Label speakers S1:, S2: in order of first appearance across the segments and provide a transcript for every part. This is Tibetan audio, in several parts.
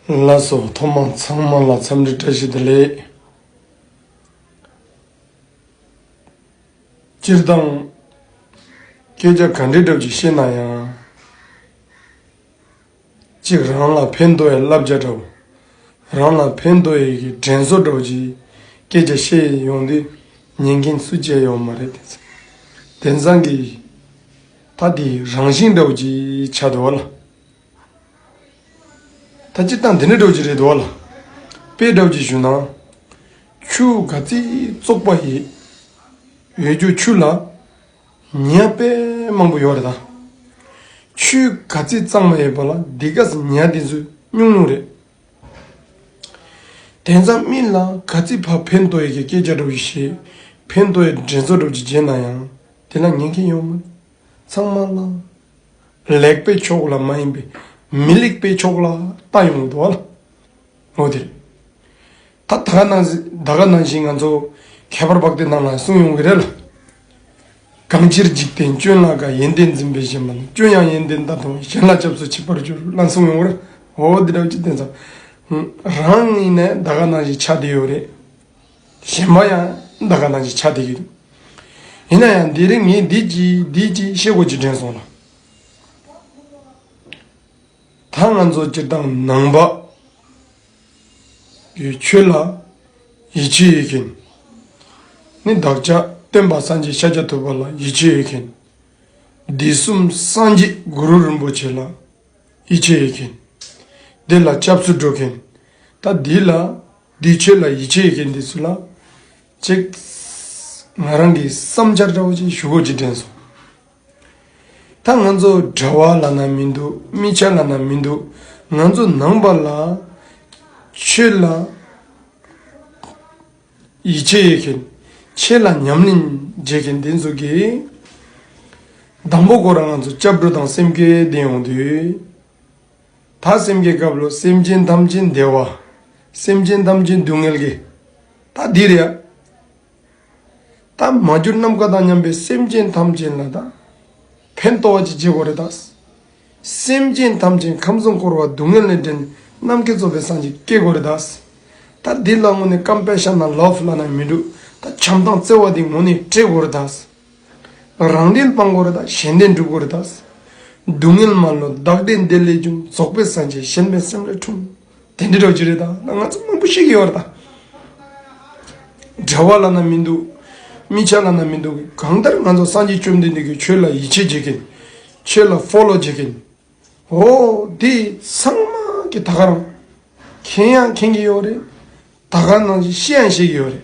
S1: བླ་སྲོག་ཐོག་མ་ཚང་མ་ལ་འཚམས་འདྲི་བཀྲ་ཤིས་བདེ་ལེགས། སྤྱིར་བཏང་སྐད་ཆ་ག་འདྲའི་གྲབས་ཀྱིས་བཤད་ན་ཡང། གཅིག་རང་ལ་ཕན་འདོགས་ཡི་བསླབ་བྱ་གྲབས། རང་ལ་ཕན་འདོགས་ཡི་གི་དྲན་གསོ་གྲབས་ཀྱིས་སྐད་ཆ་བཤད་ཡོང་དུས་ཉན་མཁན་སུ་བྱས་ཡོད་མ་རེད་དེ། དེང་སང་གི་ད་དེའི་རང་བཞིན་གྲབས་ཀྱིས་ཆ་དོ་བ་ལ། ད་སྤྱིར་བཏང་དེ་འདྲ་སྒྲོག་གི་རེད་འདུག་ལ། དཔེ་སྒྲོག་གི་ཞུ་ན། ཆུ་ག་རྩི་བཙོག་པ་ཡི། ཡོད་རྒྱུ་ཆུ་ལ། ཉི་ཡ་པད་མང་པོ་ཡོད་རེད་ད། ཆུའི་ག་རྩི་གཙང་མ་ཡོད་པ་ལ་སྡིག་ག་ཟེ་ཉི་ཡ་དེ་ཚོས་སྨྱུང་སྨྱུང་རེད། དེང་སང་སྨིན་ལ་ག་རྩི་བ་ཕན་ལྟོ་ཡི་གི་སྐད་ཆ་སྒྲོག་གི་ཞེས་ཕན་ལྟོ་ཡི་འགྲན་ཚོགས་སྒྲོག་གི་རྗེས་གནང་ཡང་དེ་ལ་ཉན་མཁན་ཡོད་མོད། ཚང་མ་ལ། ལེགས་པའི་ཕྱོགས་ལ་མ་ཡིན་པའི་མི་ལེགས་པའི་ཕྱོགས་ལ་ལྟ་ཡོང་དོ། ངོ་དེ་རེད། ད་ད་ག་ནང་ད་ག་ནང་བཞིན་ང་ཚོ་ཁྱད་པར་འབག་དེ་ནང་ལ་སོང་ཡོང་གི་རེད་ལ། གང་ཕྱིར་འཇིག་རྟེན་སྐྱོན་ལ་ག་ཡན་ཏན་འཛིན་པའི་གཞན་པ་ནི་སྐྱོན་ཡང་ཡན་ཏན་ལྟ་དང་གཞན་ལ་སྐྱབས་སུ་མཆི་བར་གྱུར་ལ་སོང་ཡོང་གི་རེད། འོ་འདི་འདྲ་བ་ཅིག་བསྟན་ཙང། རང་ཡིན་ནའི་ད་ག་ནང་བཞིན་ཆ་དེ་ཡོད་རེད། གཞན་པ་ཡང་འདའ་ཀ་ནང་གི་ཆ་དེ་གི་རེད། ཡིན་ན་ཡང་འདི་རིང་ངས་འདི་གཅིག་འདི་གཅིག་ཤེས་སྒོ་གཅིག་དྲན་སོང་ལ། ད་ང་ཚོ་སྤྱིར་བཏང་ནང་པ་ཡོད་ཁྱོད་ལ་ཡིད་ཆེས་ཡོད་མཁན་ནི་བདག་ཅག་སྟོན་པ་སངས་རྒྱས་ཤཱཀྱ་ཐུབ་པ་ལ་ཡིད་ཆེས་ཡོད་མཁན། སྡེ་གསུམ་སངས་རྒྱས་གུ་རུ་རིན་པོ་ཆེ་ལ་ཡིད་ཆེས་ཡོད་མཁན། སྡེ་ལ་སྐྱབས་སུ་འགྲོ་མཁན་ད་འདི་ལ་འདིའི་ཆོས་ལ་ཡིད་ཆེས་མཁན་དེ་ཚོ་ལ། ཅེག། ང་རང་གི་བསམ་འཆར་འདྲ་བོ་ཅིག་ཞུ་དགོས་ཅེས་དྲན་སོང། ད་ང་ཚོ་གྲྭ་བ་ལ་ན་མི་འདུག་སྨི་ཆ་ལ་ན་མི་འདུག་ང་ཚོ་ནང་པ་ལ། ཆོས་ལ། ཡིད་ཆེས་ཡོད་མཁན། ཆོས་ལ་ཉམས་ལེན་བྱེད་མཁན་དེ་ཚོ་གིས། དང་པོ་སྐོར་ང་ཚོ་སྐྱབས་འགྲོ་དང་སེམས་སྐྱོ་ལྡན་ཡོང་དུས། དག་སེམས་ཀྱི་སྐབས་ལོ་སེམས་ཅན་ཐམས་ཅད་བདེ་བ། སེམས་ཅན་ཐམས་ཅད་སྡུག་བསྔལ་གྱི། ད་འདིར་ཡང། རྟགས་མ་གྱུར་ནམ་མཁའ་དང་མཉམ་པའི་སེམས་ཅན་ཐམས་ཅད་ལ་དང། ཕན་གཏོགས་བ་ཅི་བྱས་གོ་རེ་དག། སེམས་ཅན་ཐམས་ཅད་ཁམས་གསུམ་འཁོར་བ་སྡུག་བསྔལ་ལས་འདྲེན་ནམ་མཁའི་གཙོ་བོའི་སངས་རྒྱས་སྐྱེ་གོ་རེ་དག། ད་འདི་ལ་ངོ་ནས་སྐམ་པའི་ཤ་ན་ལོག་ལྷ་ན་མི་འགྲུབ་ད་བྱམས་དང་བརྩེ་བ་འདི་ངོ་ནས་སྤྲད་གོ་རེ་དག། རང་བདེན་སྤང་འཁོར་དང་གཞན་བདེན་སྒྲུབ་འཁོར་དང། སྡུག་བསྔལ་མ་ལོ་བདག་བདེ་འདི་ལས་ཀྱང་རྫོགས་པའི་སངས་རྒྱས་གཞན་ཕན་སེམས་ལས་འཁྲུངས། དེ་འདྲའི་གྲོགས་ཅི་རིགས་དང་ང་ཚོ་མང་པོ་ཞིག་ཡོད་པ་དང། བྲལ་བ་བླ་ན་མི་འདུག་དམིགས་བྱ་བླ་ན་མི་འདུག་གང་ལྟར་ང་ཚོ་སངས་རྒྱས་བཅོམ་ལྡན་འདས་ཀྱིས་ཆོས་ལ་ཡིད་ཆེས་བྱེད་མཁན། ཆོས་ལ Follow བྱེད་མཁན། འོ་དེ་ཚང་མ་གི་ད་ག་རང། མཁྱེན་ཡང་མཁྱེན་གྱི་ཡོད་རེད། ད་ག་ནང་བཞིན་ཤེས་ཡང་ཤེས་ཀྱི་ཡོད་རེད།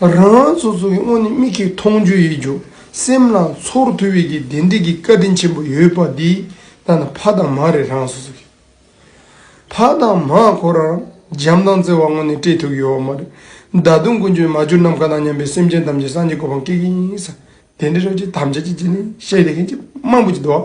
S1: རང་རང་སོ་སོ་གི་སྔོན་ནས་མིག་གིས་མཐོང་རྒྱུ་ཡིད་འཇུག་སེམས་ལ་ཚོར་ཐུབ་བས་ཀྱི་བདེ་འབྲས་ཀྱི་བཀའ་དྲིན་ཆེན་པོ་ཡོད་པ་འདི་ལྟ་ན་ཕ་དང་མ་རེད་རང་སོ་སོ་གི་ཕ་དང་མ་ཁོ་རང་འཇམ་དང་བརྩེ་བ་སྔོན་ནས་སྤྲད་ཐུབ་ཡོད་བ་མ་རེད་ད་དུང་ཀུན་སྤྱོད་མ་བསྒྱུར་ནམ་མཁའ་དང་མཉམ་པའི་སེམས་ཅན་ཐམས་ཅད་སངས་རྒྱས་གོ་འཕང་སྐྱེ་གི་ཡིན་ས་དེ་འདྲའི་རོལ་ཆས་ཐམས་ཅད་ཀྱི་རྗེས་ནས་བཤད་བསྡད་མཁན་གྱི་དམངས་པོ་གྱི་འདུག།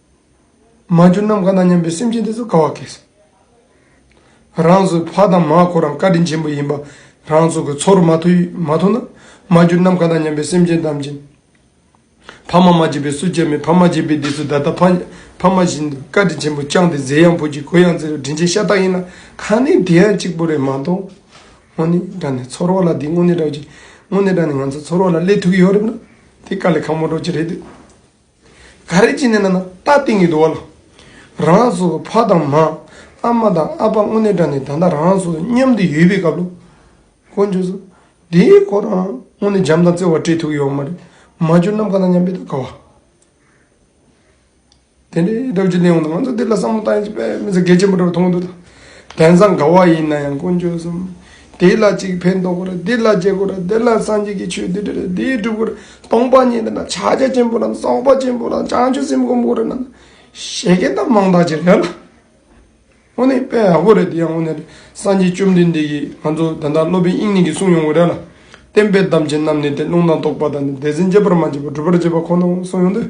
S1: མ་གྱུར་ནམ་མཁའ་དང་མཉམ་པའི་སེམས་ཅན་དེ་ཚོ་དགའ་བ་སྐྱེས་སོ། རང་ཚོའི་ཕ་དང་མ་ཁོ་རང་བཀའ་དྲིན་ཆེན་པོ་ཡིན་པ་རང་ཚོ་གི་ཚོར་མ་ཐུབ་ན། མ་གྱུར་ནམ་མཁའ་དང་མཉམ་པའི་སེམས་ཅན་དམ་ཅན། ཕ་མ་མ་སྐྱེས་པའི་སུ་སྐྱེ་མེད་ཕ་མ་སྐྱེས་པའི་དེ་ཚོ་ད་ལྟ་ཕ་མ་བཞིན་དུ་བཀའ་དྲིན་ཆེན་པོ་བསྐྱངས་ཏེ་མཛེས་ཡང་ཕུལ་གྱི་གོས་ཡང་བརྩིས་ལ་དྲིན་ཆེན་ཤ་སྟག་ཡིན་ལ་ཁ་ནི་དེ་ཡང་གཅིག་པུ་རེད་མ་གཏོགས། དངོས་གནས་དྲན་ནས་ཚོར་བ་ལ་དེ་དངོས་གནས་དྲན་ནས་ང་ཚོ་ཚོར་བ་ལ་སླེབས་ཐུབ་ཀྱི་ཡོད་རེད་ན། དེ་དཀའ་ལས་ཁག་མོ་སྒྲོག་ཅིག་རེད་འདོད། ག་རེ་བྱས་ནས་ན་ན་རྟ་སྟེང་གི་རྡོ་བ་ལ། རང་རང་སོ་སོ་ཕ་དང་མ། ཨ་མ་དང་ཨ་ཕ་དངོས་གནས་དྲ་ནས་ད་ལྟ་རང་རང་སོ་སོ་མཉམ་དུ་ཡོད་པའི་སྐབས་ལོ། ཀོ་འཇོ་སོ། དེའི་གོ་རང་རང་དངོས་གནས་འཇམ་དང་བརྩེ་བ་སྤྲད་ཐུབ་ཡོད་མ་རེད། མ་འཇོན་ནམ་ག་ལ་སྙམ་པའི་དགའ་བ། དེ་འདྲའི་སྒྲ་བརྗོད་ལས་འོངས་ཏེ་ང་ཚོ་འདི་ལ་བསམ་བློ་བཏང་ཡོད་ཚེ་དཔེ་མི་ཚེ་གལ་ཆེན་པོ་འདྲ་བ་མཐོང་གི་འདུག་ད། དེང་སང་དགའ་བ་ཡིན་ན་ཡང་དཀོན་མཆོག་གསུམ། དེ་ལ་གཅིག་ཕན་འདོགས་དགོས་རེད་འདི་ལ་རྒྱལ་དགོས་རེད་འདི་ལ་སངས་རྒྱས་ཀྱི་ཆོས་འདི་འདྲ་རེད་འདི་སྒྲུབ་དགོས་རེད་སྟོང་པ་ཉིད་འདི་འདྲ་ཕྱག་རྒྱ་ཆེན་པོ་རྣམས་གསོག་པ་ཆེན་པོ་རྣམས་བྱང་ཆུབ་སེམས་སྒོམ་དགོས་རེད་ནམ། བཤད་མཁན་དག་མང་དག་ཅིག་རེད་ལ། དངོས་གནས་དཔེ་ཡག་པོ་རེད་འདི་ཡང་དངོས་གནས་རེད་སངས་རྒྱས་བཅོམ་ལྡན་འདས་ཀྱིས་ང་ཚོ་དེ་འདྲ་སློབ་དཔོན་དབྱིག་གཉེན་གྱིས་གསུངས་ཡོང་གི་རེད་ལ། བསྟན་པའི་དམ་ཅན་རྣམས་ནི་དེ་ལུང་དང་རྟོགས་པ་དང་ནི་དད་སེམས་བསྐྱེད་པར་མ་བྱས་པར་སྒྲུབ་པར་བྱེད་པ་ཁོ་ན་འོང་གསུངས་ཡོང་དུས།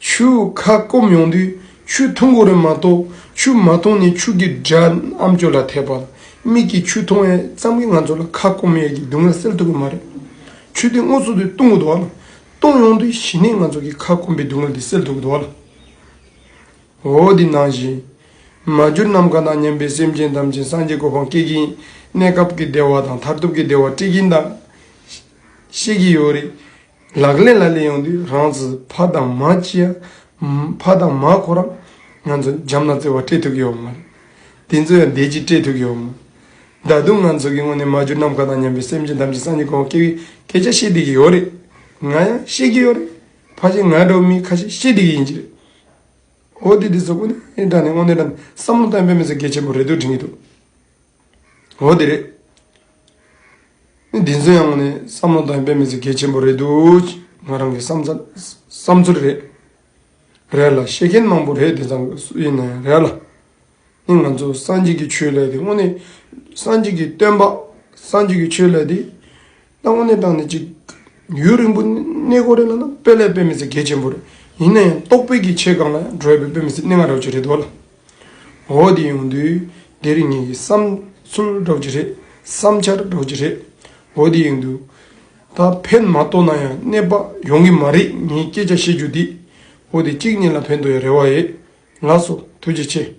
S1: ཆུ་ཁ་སྐོམ་ཡོང་དུས་ཆུ་འཐུང་གོ་རེ་མ་གཏོགས་ཆུ་མ་འཐུང་ནས་ཆུ་གི་སྒྲ་ཨམ་སྐྱོ་ལ་ཐེབས་པར་མིག་གིས་ཆུ་འཐུང་བས་ཙམ་གྱིས་ང་ཚོ་ལ་ཁ་སྐོམ་ཡས་ཀྱི་སྡུག་བསྔལ་སེལ་ཐུབ་ཀྱི་མ་རེད། ཆུ་དེ་སྔོ་ཚོད་དུ་བཏུང་གི་འདུག་ཨང། བཏུང་ཡོང་དུས་གཞི་ནས་ང་ཚོ་གི་ཁ་སྐོམ་པའི་སྡུག་བསྔལ་དེ་སེལ་ཐུབ་ཀྱི་འདུག་ཨང། འོ་དེ་ནང་བཞིན། མ་གྱུར་ནམ་མཁའ་དང་མཉམ་པའི་སེམས་ཅན་ཐམས་ཅད་སངས་རྒྱས་གོ་འཕང་སྐྱེད་ཀྱིན་གནས་སྐབས་ཀྱི་བདེ་བ་དང་མཐར་ཐུག་གི་བདེ་བ་སྤྲད་ཀྱིན་གདའ། ཤེས་ཀྱི་ཡོད་རེད། ལག་ལེན་ལ་ལས་ཡོང་དུས་རང་ཚུད་ཕ་དང་མ་སྐྱིད་ཨ། ཕ་དང་མ་ཁོ་རང། ང་ཚོ་འཇམ་ལ་རྩེ་བ་སྤྲད་ཐུབ་ཀྱི་ཡོད་མ་རེད། དེ་ཚོ་ཡང་བདེ་སྐྱིད་སྤྲད་ཐུབ་ཀྱི་ཡོད་མ་རེད། ད་དུང་ང་ཚོ་གི་སྔོན་ནས་མ་གྱུར་ནམ་མཁའ་དང་མཉམ་པའི་སེམས་ཅན་ཐམས་ཅད་སངས་རྒྱས་གོང་འོག་སྐྱེ་བའི་སྐད་ཆ་བཤད་བསྡད་ཀྱི་ཡོད་རེད། ང་ཡང་བཤད་ཀྱི་ཡོད་རེད། ཕ་གཞན་ང་འདྲ་བོ་མིས་ཁ་ཤས་བཤད་བསྡད་ཀྱི་ཡིན་གྱི་རེད། འོ་དེ་དེ་ཚོ་ཀུན་ནས་དྲན་ནས་དངོས་གནས་དྲན་ནས་བསམ་བློ་གཏོང་ཕན་མི་ཚེ་གལ་ཆེན་པོ་རེད་འདུག་དྲན་གྱི་འདུག། འོ་དེ་རེད། འདི་ཚོ་ཡང་བསམ་བློ་དང་དཔེ་མེད་ཚོ་གལ་ཆེན་པོ་རེད་འདུག་ང་རང་གི་བསམ་ཚུལ་རེད། རེད་ལ་ཤེས་མཁན་མང་པོ་རེད་དེ་ཚང་གི་སུ་ཡིན་ན་ཡང་རེད་ལ། ནི་ང་ཚོ་སངས་རྒྱས་ཀྱི་ཆོས་ལས་དེ་དངོས་གནས་སངས་རྒྱས་ཀྱི་སྟོན་པ་སངས་རྒྱས་ཀྱི་ཆོས་ལས་དེ། བཏང་བ་ནི་བཏང་ནི་གཅིག། ཡུན་རིང་པོ་གནས་སྐོར་རེད་ལ་ན་དཔེ་ལས་དཔེ་མི་སྲིད་གལ་ཆེན་པོ་རེད། ཡིན་ན་ཡང་རྟོགས་དཔེ་ཀྱི་ཆེད་གང་ལ་ཡང་བགྲོད་པའི་དཔེ་མི་སྲིད་གནས་ངག་སྒྲོག་བྱེད་རེད་འདོད་ལ། འོ་དེ་ཡོང་དུས་འདི་རིགས་ངེད་ཀྱི་བསམ་ཚུལ་སྒྲོག་བྱེད་རེད། བསམ་འཆར་སྒྲོག་བྱེད་རེད། འོ་དེ་ཡོང་དུས། ད་ཕན་མ་རྟོགས་ན་ཡང་གནས་པ་ཡོང་གི་མ་རེད་ངས་སྐད་ཆ་བཤད་རྒྱུ་འདི། འོ་དེ་གཅིག་གཉིས་ལ་ཕན་ཐོགས་ཡོད་རེ་བ་ཡོད་ལགས་སོ་ཐུགས་རྗེ་ཆེ།